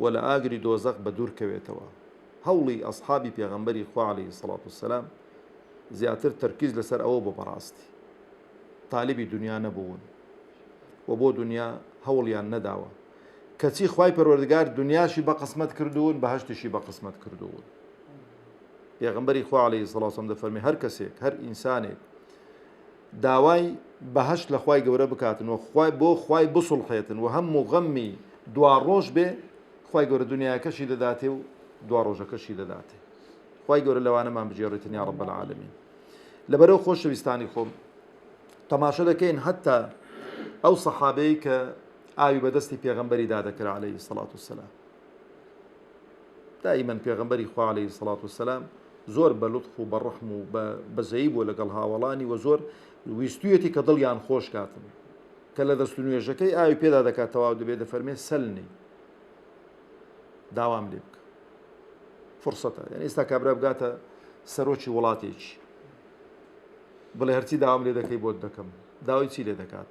و لە ئاگری دۆزەخ بەدوور کەوێتەوە، هەوڵی ئەسحابی پێغەمبەری خوا علیە الصلوة والسلام زیاتر تەرکیز لەسەر ئەوە بوو بەڕاستی تالیبی دونیا نەبوون و بۆ دونیا هەوڵیان نەداوە کەچی خوای پەروەردگار دونیاشی بەقسمەت کردوون بەهەشتیشی بەقسمەت کردوون پێغەمبەری خوا علیه الصلوة والسلام دەفەرمی هەر کەسێک هەر ئینسانێک داوای بەهەشت لە خوای گەورە بکاتن و خوای بۆ خوای بسوڵحێتن و هەم و غەممی دواڕۆژ بێ خوای گەورە دونیایەکەشی دەداتێ و دواڕۆژەکەشی دەداتێ خوای گەورە لەوانەمان بگێڕیتن یا رب العالمین لەبەرەو خۆشەویستانی خۆم تەماشە دەکەین هەتا ئەو سەحابەی کە ئاوی بەدەستی پێغەمبەری دادەکرا عليه سەڵات و سەلام دائیمەن پێغەمبەری خوا علیە سڵات و سلام زۆر بە لوتف و بە ڕحم و بە بەزەیی بووە لەگەڵ هاوەڵانی وە زۆر ویستویەتی کە دڵیان خۆش کاتن کە لە دەست نوێژەکەی ئاوی پێدا دەکات تەواو دەبێت دەفەرمێ سەلنی داوام لێ بکە فرسەتە یعنی ئێستا کابرا بگاتە سەرۆکی وڵاتێکی بڵێ هەرچی داوام لێ دەکەی بۆت دەکەم داوای چی لێ دەکات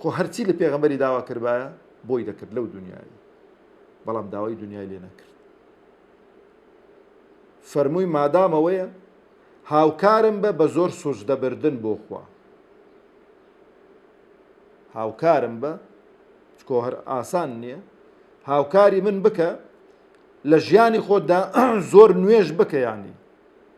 خۆ هەرچی لە پێغەمبەری داوا کردبایە بۆی دەکرد لەو دنیای بەڵام داوای دنیای لێ نەکرد فەرمووی مادامەوەیە هاوکارم بە بە زۆر سوزدەبردن بۆ خوا هاوکارم بە چکۆ هەر ئاسان نییە هاوکاری من بکە لە ژیانی خۆتدا زۆر نوێژ بکەیانی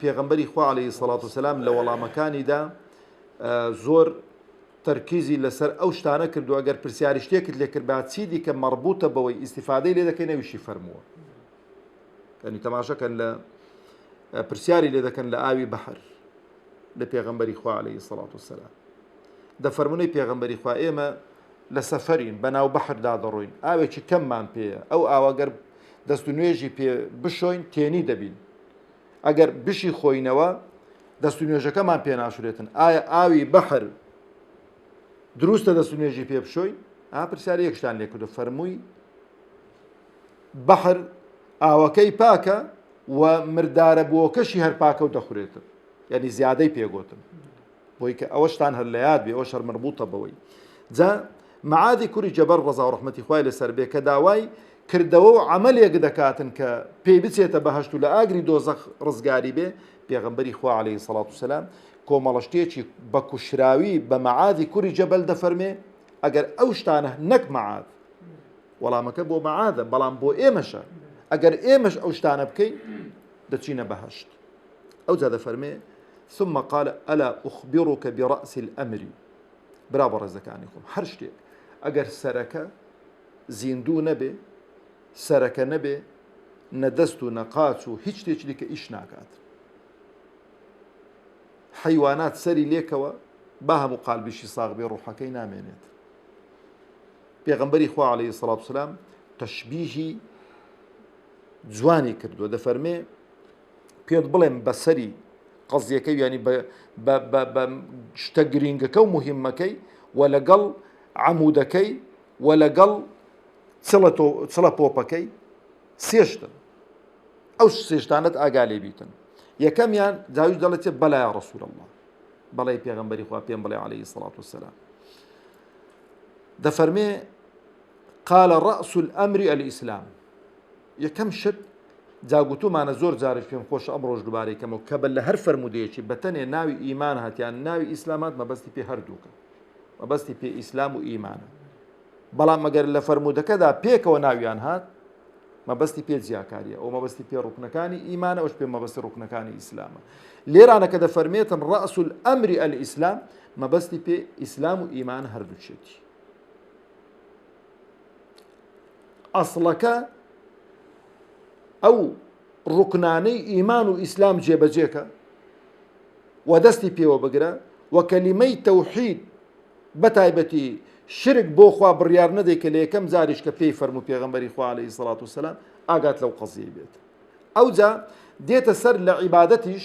پێغەمبەری خوا عەلەیهی سەڵات و سەلام لە وەڵامەکانیدا زۆر تەرکیزی لەسەر ئەو شتانە کردو ئەگەر پرسیاری شتێکت لێکردبا چی دیکە مەڕبوتە بەوەی ئیسیفادەی لێ دەکەی نەویشی فەرمووە کەنی تەماشەکەن لە پرسیاری لێ دەکەن لە ئاوی بەحر لە پێغەمبەری خوا عليهەی سەڵات و سەلا دەفەرمونەی پێغەمبەری خوا ئێمە لە سەفەرین بەناو بەحردا دەڕۆین ئاوێکی کەممان پێەیە ئەو ئاواگەر دەست و نوێژی پێ بشۆین تێنی دەبین ئەگەر بشی خۆینەوە دەست و نوێژەکەمان پێ ناشرێتن ئایا ئاوی بەحر دروستە دەست و نوێژی پێ بشۆین ئاپرسیار یەکشتان لێکردو فەرمووی بەحر ئاوەکەی پاکە و مردارە بۆکەشی هەر پاکە و دەخورێتن یعنی زیادەی پێگوتن بۆی کە ئەوەشتان هەر لە یاد بێ ئەوەش هەر مربوطە بەوەی جا معادی کوری جەبەر ڕزا و ڕحمەتی خوای لەسەر بێ کە داوای کردەوە و عملێک دەکاتن کە پێی بچێتە بەهشت و لە ئاگری دۆزەخ ڕزگاری بێ پێغمبەری خوا عليه سەڵات و سلام کۆمەڵشتێکی بە کوشراوی بە معادی کوری جەبەل دەفەرمێ ئەگەر ئەو شتانە نەک معاد وەڵامەکە بۆ معادە بەڵام بۆ ئێمەشە ئەگەر ئێمەش ئەو شتانە بکەین دەچینە بەهشت ئەوجا دەفەرمێ ثم قال الا اخبرك برأس الامر برا بەڕێزەکانی خۆم هەر شتێک ئەگەر سەرەکە زیندوو نەبێ سەرەکە نەبێ نەدەست و نەقاچ و هیچ شتێکی دیکە ئیش ناکات حیوانات سەری لێکەوە با هەموو قالبیشی ساغ بێ ڕوحەکەی نامێنێت پێغمبەری خوا عليه سلااو سلام تەشببیهی جوانی کردووە دەفەرمێ پێت بڵێم بەسەری قەزیەکەی ینی بە شتە گرینگەکە و مهمەکەی و لەگەڵ عمودەکەی و لەگەڵ چڵە پۆپەکەی سێشتن ئەو سێشتانت ئاگا لێ بیتن یەکەمیان جاویش دەڵێت بەلای ڕسول الله بەڵی پێغمبەری خوا پێم بڵێ عليه سڵات وسلام دەفەرمێ قال رأس الأمر الإسلام یەکەم شت جا گوتومانە زۆر جاریش پێم خۆشە ئەمڕۆش دوبارەی کەمەوە کە بە لە هەر فەرموودەیەکی بە تەنێ ناوی ئیمان هات یان ناوی ئیسلام هات مەبەستی پێ هەردووکە مەبەستی پێ ئیسلام و ئیمانە بەڵام مەگەر لە فەرموودەکەدا پێکەوە ناویان هات مەبەستی پێ جیاکاریە ئەو مەبەستی پێ ڕوکنەکانی ئیمانە ئەوش پێ مەبەستی ڕوکنەکانی ئیسلامە لێرانە کە دەفەرمێتن ڕئسول ئەمری ئەل ئیسلام مەبەستی پێ ئیسلام و ئیمان هەردووچێتی ئەسڵەکە ئەو ڕوکنانەی ئیمان و ئیسلام جێبەجێکە و دەستی پێوە بگرە و کەلیمەی تەوحید بە تایبەتی شرک بۆ خوا بڕیار نەدەی کە لە یەکەم جاریش کە پێی فەرمو پێغمبەری خوالی سڵات و سلام ئاگات لەو قەزیی بێت ئەوجا دێتە سەر لە عیباەتیش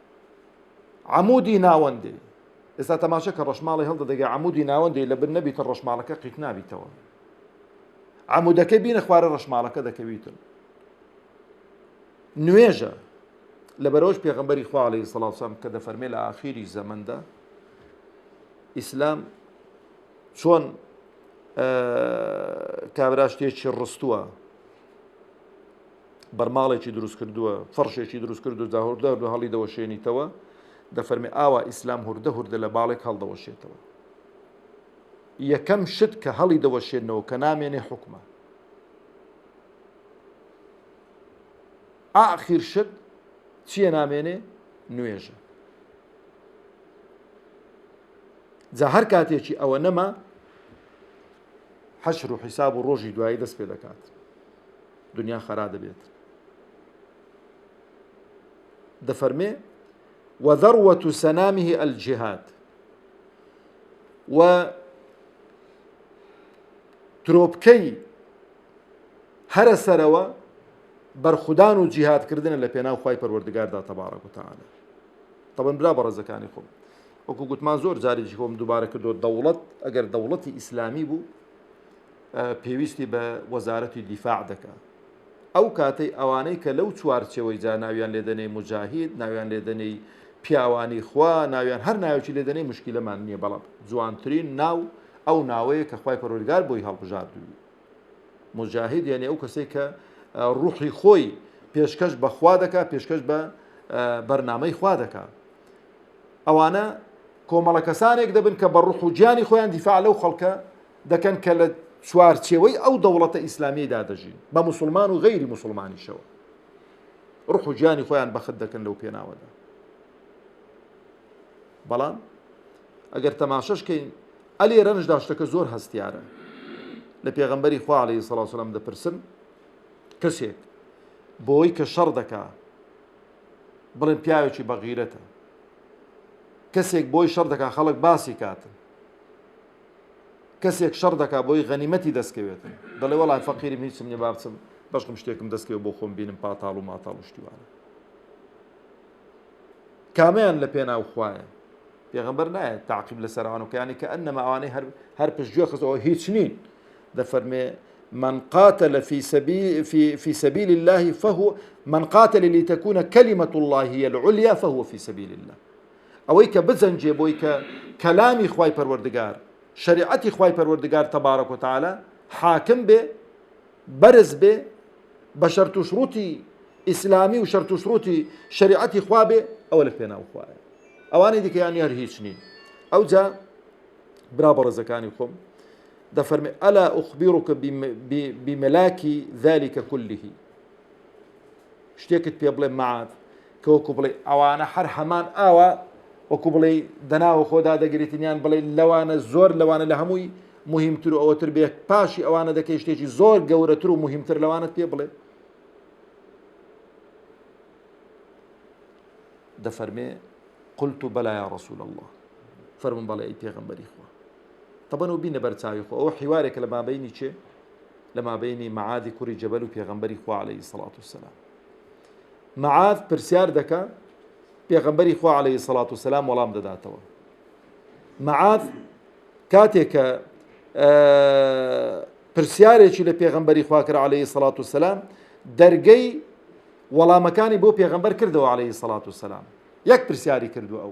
عەمودی ناوەندی ئێستا تەماشە کە ڕەشماڵی هەڵدە دەگە عمودی ناوەندی لە بر نەبیتە ڕەشماڵەکە قیت نابیتەوە عمودەکە بینە خوارە ڕەشماڵەکە دەکەویتن نوێژە لە بەرەوەش پێغمبەری خواڵی سەڵاوسان کە دەفەرمێ لە ئاخیری زەمەدا ئیسلام چۆن کابراشتێکی ڕستووە بەرماڵێکی دروست کردووە فەڕشێکی دروست کرد و جاهوردە هەردوو هەڵی دەوەشێنیتەوە دەفەرمی ئاوا ئیسلام هوردە هوردە لە باڵێک هەڵدەوەشێتەوە یەکەم شت کە هەڵی دەوەشێنەوە کە نامێنێ حکومە ئاخیر شت چییە نامێنێ نوێژە جا هەر کاتێکی ئەوە نەما حەشر و حیساب و ڕۆژی دوایی دەست پێ دەکات دنیا خەرا دەبێت دەفەرمێ وذروة سنامه الجهاد و ترۆپکەی هەرە سەرەوە بەرخودان و جیهادکردنە لە پێناو خی پەروەردگاردا تەبارەک وتەعاە تەبن برا بە ڕێزەکانی خۆم وەکو گوتمان زۆر جاریی خۆم دووبارە کردو دەوڵەت ئەگەر دەوڵەتی ئیسلامی بوو پێویستی بە وەزارەتی دیفاع دەکا. ئەو کاتەی ئەوانەی کە لەو چوارچێوەی جا ناویان لێ دەنێی موجاهید، ناویان لێ دەنێی پیاوانی خوا، ناویان هەر ناوێکی لێ دەنێی موشکیلەمان نییە بەڵام جوانترین ناو ئەو ناوەیە کە خوای پەروەردگار بۆی هەڵبژاردووی. موجاهید یانی ئەو کەسەی کە ڕوحی خۆی پێشکەش بە خوا دەکا پێشکەش بە بەرنامەی خوا دەکا. ئەوانە کۆمەڵە کەسانێک دەبن کە بە ڕوح و گیانی خۆیان دیفاع لەو خەڵکە دەکەن کە لە چوارچێوەی ئەو دەوڵەتە ئیسلامیدا دەژین بە مسلمان و غیری مسلمانیشەوە ڕح و گیانی خۆیان بەخت دەکەن لەو پێناوەدا بەڵام ئەگەر تەماشەشکەین ئەلێ رەنج داشتەکە زۆر هەستیارە لە پێغمبەری خواڵی سەڵاسلام دەپرسن کەسێک بۆی کە شەڕ دەکا بڵێن پیاوێکی بەغیرەتە کەسێک بۆی شەڕ دەکا خەڵک باسی کاتن کەسێک شەڕ دەکا بۆی غەنیمەتی دەستکەوێت دەڵێ وەڵا فەقیرم هیچم نیە با بچم بەشکم شتێکم دەستکەوێت بۆ خۆم بینم پاتاڵ و ماتاڵ و شتی وانە کامیان لە پێناو خوایە پێغمبەر نایە تاقیب لە سەرانەکانی کە ئەنەما ئەوانەی هەر هەر پشتگوێ خستەوە هیچ نین دەفەرمێ من قاتل في سبيل في في سبيل الله فهو من قاتل لتكون كلمة الله هي العليا فهو في سبيل الله ئەوەی کە بجەنگێ بۆی کە کەلامی خوای پەروەردگار، شەریعەتی خوای پەروەردگار تبارک و تعالی، حاکم بێ، بەرز بێ، بە شەرت و شڕوتی ئیسلامی و شەرت و شڕوتی شەریعەتی خوا بێ، ئەوە لە پێناو خوایە. ئەوانەی دیکە یانی هەر هیچ نین. ئەوجا برا بەڕێزەکانی خۆم دەفەرمێ ئەلا ئوخبیڕکە بملاکی ذلك كله شتێکت پێ بڵێم مەعاد کە وەکو بڵێ ئەوانە هەر هەمان ئاوا وەکو بڵێ دەناوە خۆدا دەگرێتن یان بڵێ لەوانە زۆر لەوانە لە هەمووی مهمتر و ئەوەتر بێ پاشی ئەوانە دەکەی شتێکی زۆر گەورەتر و مهمتر لەوانت پێ بڵێ دەفەرمێ قلت و بەلایە ڕسول الله فەرمون بەڵێ ئەی پێغمبەری خوا تەبەن و بینە بەرچاوی خۆ ئەو حیوارێکە لە بابینی چێ لەمابەینی معاذی کوڕی جەبەل و پێغەمبەری خوا علیە سەڵات و سلام معاذ پرسیار دەکە پێغەمبەری خوا علیە سەڵات و سلام وەڵام دەداتەوە معاذ کاتێک کە پرسیارێکی لە پێغەمبەری خواکرا عليه سەڵات و سلام دەرگەی وەڵامەکانی بۆ پێغەمبەر کردەوە عليه سەڵات و سلام یەک پرسیاری کردو ئەو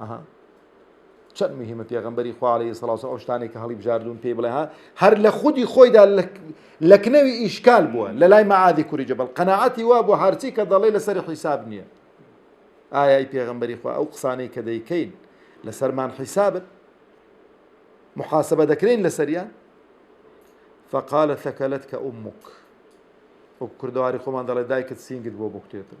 ئەها چەند مهمە پێغمبەری خوا عليه سڵاو ئەو شتانێک کە هەڵی بژاردون پێی بڵێ ها هەر لە خودی خۆیدا لەکنەوی ئیشکال بووە لە لای مەعادی کوری جەبل قەنەعەتی وا بۆ هەرچی کە دەڵێ لەسەر حیساب نییە ئایای پێغمبەری خوا ئەو قسانەی کە دەیکەین لەسەرمان حیسابن محاسبە دەکرێن لەسەریان فقالە ثەکەلت کە ئومک وەک کوردەواری خۆمان دەڵێ دایکت سینگت بۆ بکتێتن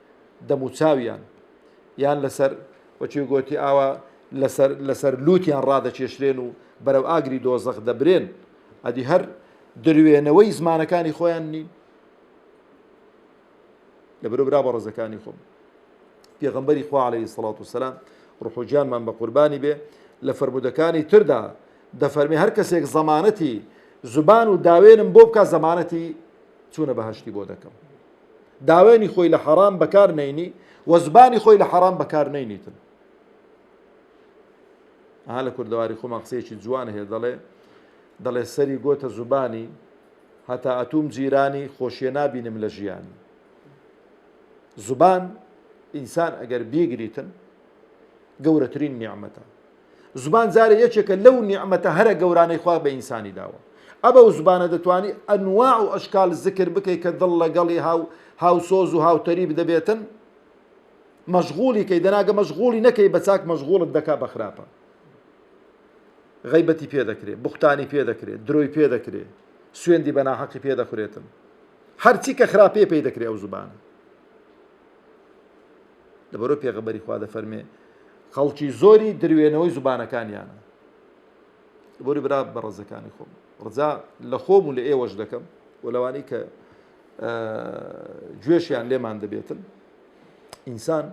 دەموچاویان یان لەسەر وەچی گۆتی ئاوا لەسەر لەسەر لووتیان ڕادەکێشرێن و بەرەو ئاگری دۆزەخ دەبرێن ئەدی هەر دروێنەوەی زمانەکانی خۆیان نین لە برو برا بە ڕزەکانی خۆم پێغمبەری خوا عليه سڵات و سلام ڕحوجانمان بە قوربانی بێ لە فرمودەکانی تردا دەفەرمی هەر کەسێک زەمانەتی زبان و داوێنم بۆ بکە زەمانەتی چوونە بەهشتی بۆ دەکەم داوێنی خۆی لە حەرام بەکار نەینی و زبانی خۆی لە حەرام بەکار نەینیتن ها لە کوردەواری خۆمان قسەیەکی جوان هەیە دەڵێ دەڵێ سەری گۆتە زوبانی هەتا ئەتوم جیرانی خۆشیە نابینم لە ژیان زبان ئینسان ئەگەر بیگریتن گەورەترین نیعممەتە زمان جارێ یەکێکە لەو نیعمەتە هەرە گەورانەی خوا بە ئینسانی داوە ئەبە و زبانە دەتوانی ئەنواع و ئەشکال زکر بکەی کە دڵ لەگەڵی هاو هاوسۆز و هاوتەریب دەبێتن مەشغولی کەی دەناگە مەشغولی نەکەی بە چاک مەشغولت دەکا بە خراپە غیبەتی پێ دەکرێت بختانی پێ دەکرێت درۆی پێ دەکرێت سوێندی بە ناحەقی پێ دەخورێتن هەرچی کە خراپێ پێی دەکرێت ئەو زبانە لەبەرئەوەی پێغەمبەری خوا دەفەرمێ خەڵکی زۆری دروێنەوەی زوبانەکانیانە بۆری برا بە ڕزەکانی خۆم ڕزا لە خۆم و لە ئێوەش دەکەم و لەوانی کە گوێشیان لێمان دەبێتن ئینسان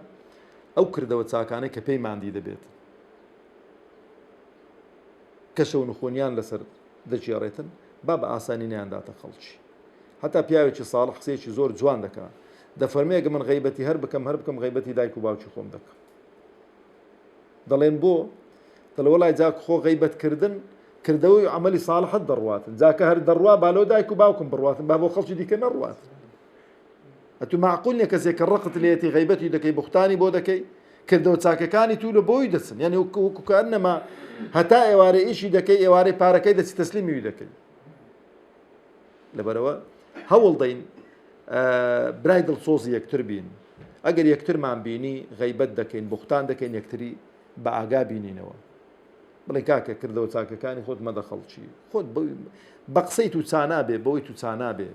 ئەو کردەوە چاکانەی کە پێی مادی دەبێت کەشە و نخۆنیان لەسەر دەگێڕێتن با بە ئاسانی نیانداتە خەڵکی هەتا پیاوێکی ساڵح قسەیەکی زۆر جوان دەکا دەفەرمێ ئەگە من غەیبەتی هەر بکەم هەر بکەم غەیبەتی دایک و باوکی خۆم دەکەم دەڵێن بۆ دەڵێ وەڵای جاک خۆ غەیبەت کردن کردەوەی ئەمەلی ساڵحت دەڕواتن جاکە هەر دەڕوا بالۆ دایک و باوکم بڕاتن با بۆ خەڵکی دیکە نەڕوات ئەتو معقول نیە کەسێک کە ڕقت لێتی غیبەتی دەکەی بختانی بۆ دەکەی کردەوە چاکەکانی تو لە بۆی دەچن یعنی وکوکان نەما هەتا ئێوارە ئیشی دەکەی ئێوارەی پارەکەی دەچی تەسلیمی دەکەی لەبەرەوە هەوڵدەین برای دڵسۆزی یەکتر بین ئەگەر یەکترمان بینی غیبەت دەکەین بوختان دەکەین یەکتری بە ئاگا بینینەوە بڵێ کاکە کردەوە چاکەکانی خۆت مەدە خەڵکی خۆت بە قسەی تو چانابێ بەوەی تو چانابێ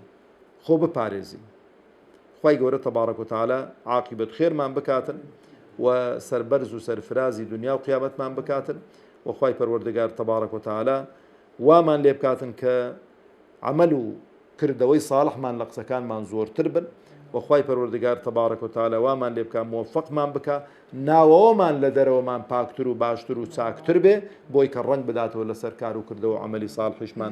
خۆ بپارێزی خی گەورە تەبارەک و تاالە عقیبەت خێرمان بکاتن و سربەرز و سەرفرازی دنیا و قیامەتمان بکاتن و خوای پەروەردگار تبارک و تعالی وامان لێ بکاتن کە عەمەل و کردەوەی صاڵحمان لە قسەکانمان زۆرتر بن و خوای پەروەردگار تبارک و تعالی وامان لێ بکا موفقمان بکا ناوەوەمان لە دەرەوەمان پاکتر و باشتر و چاکتر بێ بۆی کە ڕەنگ بداتەوە لەسەر کار و کردەوە و عەمەلی صاڵحیشمان